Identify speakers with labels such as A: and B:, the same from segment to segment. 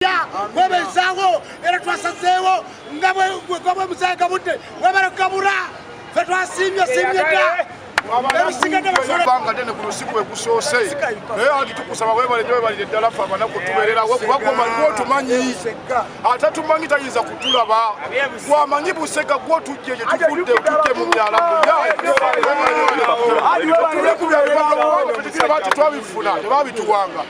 A: omupiira kwebezaawo era twasazeewo nga bwegabwe musayi gabudde webale kugabula fe twasiimye siimye dda
B: ebanga dene ku lusiku egusoose naye ati tukusaba webale nyo webalire ddala fe abanaku tubererawo kubagomanyi gwotumanyi ate tumanyi tayinza kutulaba gwamanyi busega gwotujje gye tuvudde tujje mu myala muyaaye tebabituwanga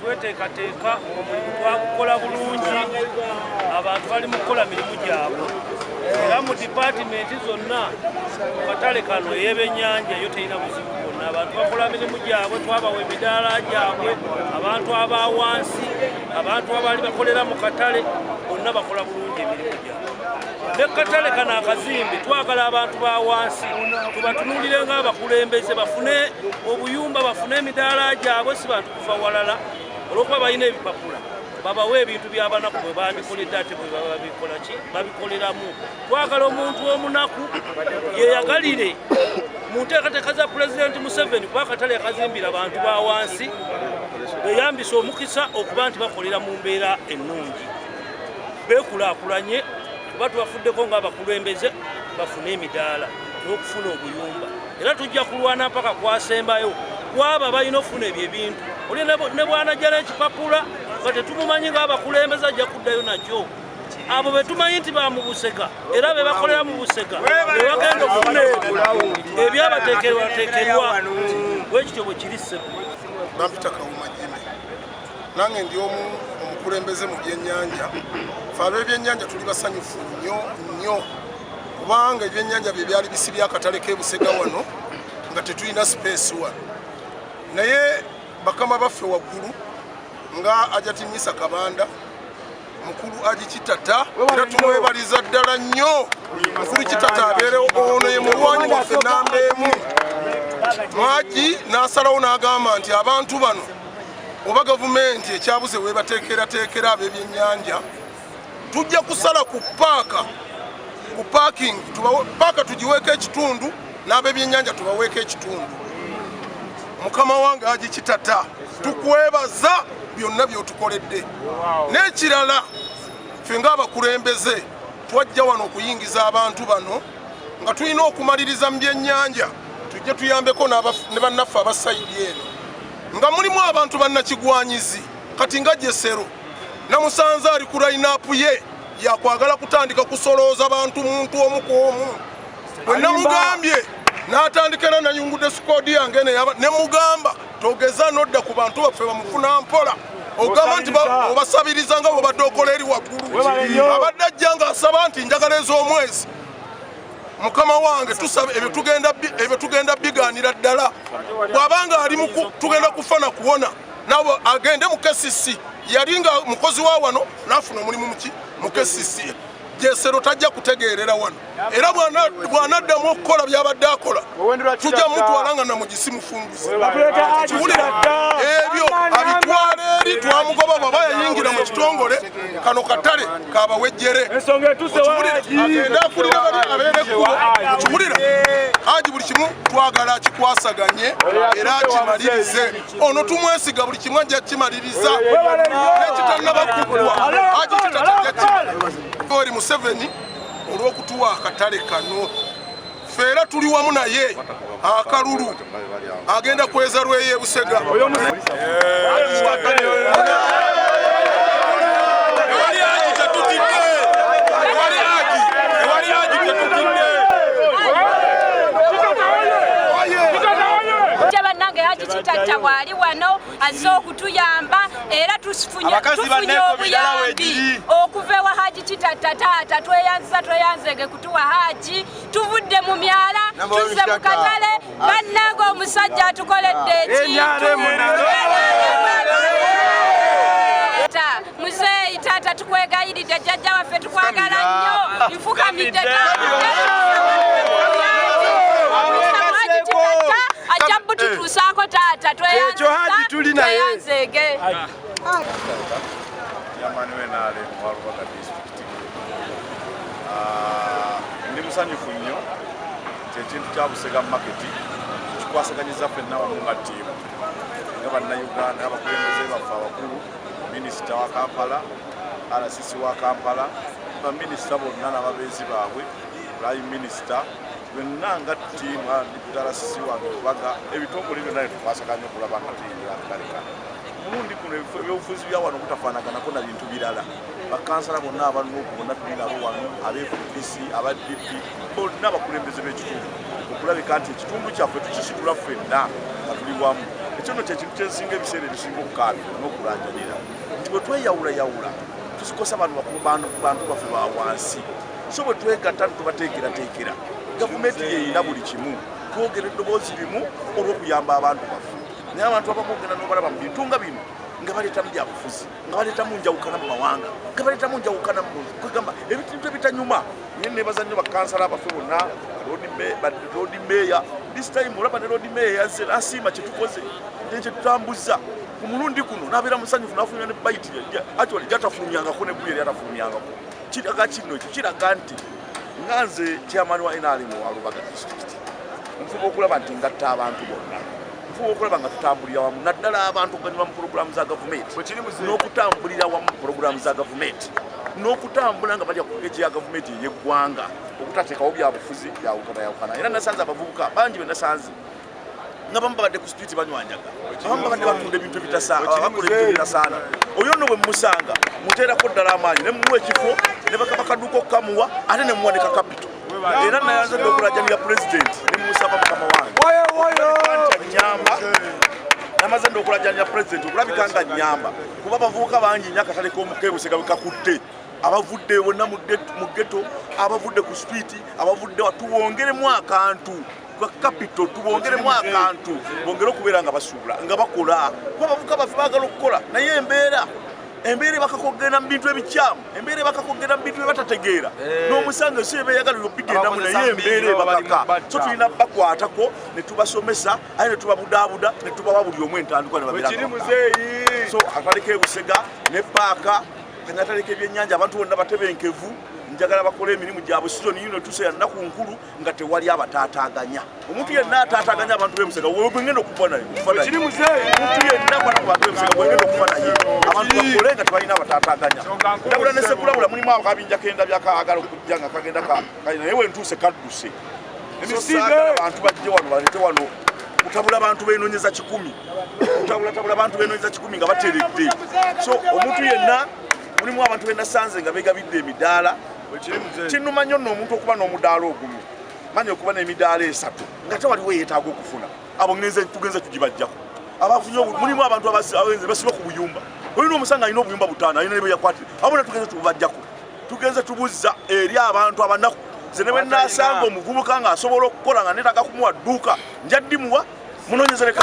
C: Tweteekateeka omulimu twakukola bulungi, abantu bali mu kukola mirimu gyabwe era mu dipaatimenti zonna mu katale kano ey'ebennyanja eyo terina buzibu bwonna. Abantu bakola mirimu gyabwe, twabawa emidaala gyabwe, abantu aba wansi, abantu abaali bakolera mu katale bonna bakola bulungi emirimu gyabwe. ne katale kano akazimbe twagala abantu ba wansi tubatunulire nga abakulembeze bafune obuyumba bafune emidaala gyabwe si bantu kuva walala olwokuba balina ebipapula babawe ebintu byabanaku bwe bandikolede ate bwe baba bikola ki babikoleramu twagala omuntu omunaku yeyagalire mu nteekateeka za pulezidenti museveni kuba akatale yakazimbira abantu ba wansi beyambisa omukisa okuba nti bakolera mu mbeera ennungi beekulaakulanye kuba tubafuddeko ng'abakulembeze bafune emidaala n'okufuna obuyumba era tujja kulwana mpaka kwasembayo kwabo abalina okufuna ebyo ebintu oli ne bwanajjala ekipapula nga tetumumanyi ng'abakulembeze ajja kuddayo nakyo abo betumanyi nti bamubuseka era bebakolera mu buseka bebagenda okufuna ebyabatekerwatekerwa wekityo bwe kiri sebo
B: nange ndi omu omukulembeze mu byennyanja fe ab'ebyennyanja tuli basanyufu nnyo nnyo kubanga ebyennyanja bye byali bisi byakatale k'ebusega wano nga tetulina sipeesi wa naye bakama baffe waggulu nga ajatinyisa kabanda mukulu agikitata era tumwebaliza ddala nnyo mukulu kitata abeerewo ono ye mulwanyi waffe namba emu mwagi n'asalawo n'agamba nti abantu bano oba gavumenti ekyabuze webateekerateekera ab'ebyennyanja tujja kusala ku paaka ku parking paaka tugiweeko ekitundu n'ab'ebyennyanja tubaweeko ekitundu mukama wange agikitata tukwebaza byonna byotukoledde n'ekirala ffe ng'abakulembeze twajja wano okuyingiza abantu bano nga tulina okumaliriza mu byennyanja tujje tuyambeko ne bannaffe abasayidi eno nga mulimu abantu bannakigwanyizi kati nga jesero namusanze ali ku layinaapu ye yakwagala kutandika kusolooza bantu muntu omu ku omu bwe namugambye n'atandikira nayungudde sikoodi yange ne mugamba togeza nodda ku bantu baffe bamufuna mpola ogamba nti obasabiriza nga bwebadde okola eri waggulu abadde ajja ng'asaba nti njagala ez'omwezi mukama wange tusaba ebyo tugenda biganira ddala bw'aba nga ali tugenda kufa na kuwona nabo agende mu kesisi yali nga mukozi wa wano n'afuna omulimu muki mu kesisi jesero tajja kutegeerera wano era bw'anaddamu okukola by'abadde akola tujja mutwala nga namugisi mufumbi kiwulira dda ebyo abitwala eri twamugoba bwaba yayingira mu kitongole kano katale kabawejjere agende akulira bali abeera ekkubo kiwulira haji buli kimu twagala akikwasaganye era akimalirize ono tumwesiga buli kimu ajja kimaliriza nekitannabakukulwa haji kitatajja kimaori museveni olw'okutuwa akatale kano ffe era tuli wamu naye akalulu agenda kweza lweye busega
D: kitatta waali wano azze okutuyamba era tufunye obuyambi okuva ewa haji kitatta taata tweyanziza tweyanzege tuwa haji tuvudde mu myala tuzze mu katale bannanga omusajja atukoledde muzeeyi taata tukwegayiridde jjajja waffe tukwagala nnyo nfukamidde ajja bututuusaako taata tweyanzeege
E: Ah, ndi musanyufu nnyo nti ekintu kya Busega maketi kikwasaganyiza ffenna wamu nga ttiimu nga bannayuganda abakulembeze baffe abakulu minisita wa kampala rcc wa kampala baminisita bonna n'ababeezi baabwe prime minisita byonna nga ttiimu rcc wange obaga ebitongole byonna netukwasaganya okulaba nga tuyingira akaleka omulundi guno ebyobufuzi bya wano butafaanaganako na bintu birala bakansala bonna abanuuku bonna tuli nabo wano abefdc aba dp bonna abakulembeze b'ekitundu okulabika nti ekitundu kyaffe tukisitula ffenna nga tuli wamu ekyo no kyekintu kyensinga ebiseera ebisinga okukaabira n'okulanjanira nti bwe tweyawulayawula tusikosa bantu bakulu bantu baffe ba wansi so bwe twegatta netubateekerateekera gavumenti yeyina buli kimu twogera eddoboozi limu olw'okuyamba abantu baffe naye abantu abamwogera n'obalaba mu bintu nga bino nga baleetamu byabufuzi nga baleetamu njawukana mu mawanga nga baleetamu njawukana mu kwegamba ebintu ebitanyuma naye nebaza nnyo bakansala abaffe bonna loodi meeya this time olaba ne loodi meeya yazze nasiima kyetukoze naye kyetutambuzza ku mulundi guno nabeera musanyufu nafulumya ne bayiti actually gyatafulumyangako ne buyeri atafulumyangako kiraga kino ekyo kiraga nti nga nze chairman wa nrm wa lubaga district nfuba okulaba nti ngatta abantu bonna tufuba okulaba nga tutambulira wamu naddala abantu okuganyulwa mu pulogulaamu za gavumenti n'okutambulira wamu mu pulogulaamu za gavumenti n'okutambula nga balya ku peegi ya gavumenti ey'eggwanga okutateekawo byabufuzi byawukanayawukana era nasanze abavubuka bangi be nasanze nga bamu babadde ku situiti banywanyaga abamu babadde batunda ebintu ebitasaana oyo no bwe mumusanga muteerako ddala amaanyi ne mumuwa ekifo ne bakabakaduuka okukamuwa ate ne muwa ne kakapito era nayanzadde okulajanira pulezidenti nemusaba mukama wange nyamba namaze nda okulajanira pulezidenti okulabika nga nyamba kuba abavubuka bangi nyo akatale k'omukebusega bwekakutte abavudde bonna mu geto abavudde ku sipiiti abavudde watuwongeremu akantu gwa kapito tubongeremu akantu bongere okubeera nga basuubula nga bakola kuba abavuka baffe baagala okukola naye embeera embeera ebakakogenda mu bintu ebikyamu embeera ebakakogenda mu bintu byebatategeera eh. n'omusango ensi eba eyagala yobigendamu naye embeera ebakaka so tulina bakwatako ne tubasomesa aye ne tubabudaabuda ne tubawa buli omu entandikwa ne babiraso ataleka ebusega ne paaka kanya ataleka ebyennyanja abantu bonna batebenkevu njagala bakole emirimu gyabwe sizoni yino etuuse ya nnaku nkulu nga tewali abataataaganya omuntu yenna ataataaganya abantu bemusega wegwengenda okufa naye omuntu yenna kwata ku bantu bemusega wegwengenda okufa naye abantu bakole nga tebalina abataataaganya ndabula ne sekulabula mulimu ako kabinja kenda byakaagala okujja nga kagenda kali naye wentuuse kadduse emisingala abantu bajje wano balete wano kutabula bantu benonyeza kikumi kutabulatabula bantu benonyeza kikumi nga bateredde so omuntu yenna mulimu abantu benasanze nga begabidde emidaala kinuma nnyo nno omuntu okuba n'omudaala ogumu manya okuba n'emidaala esatu nga tewaliwo eyetaaga okufuna abo tugenze tugibajjako abafunye mulimu abantu abaenze basiba ku buyumba olina omusanga alina obuyumba butaano alina nebeyakwatire abona tugenze tubajjako tugenze tubuzza eri abantu abanaku nze ne bwenasanga omuvubuka nga asobola okukola nga netaga kumuwa dduuka njaddimuwa munonyezereka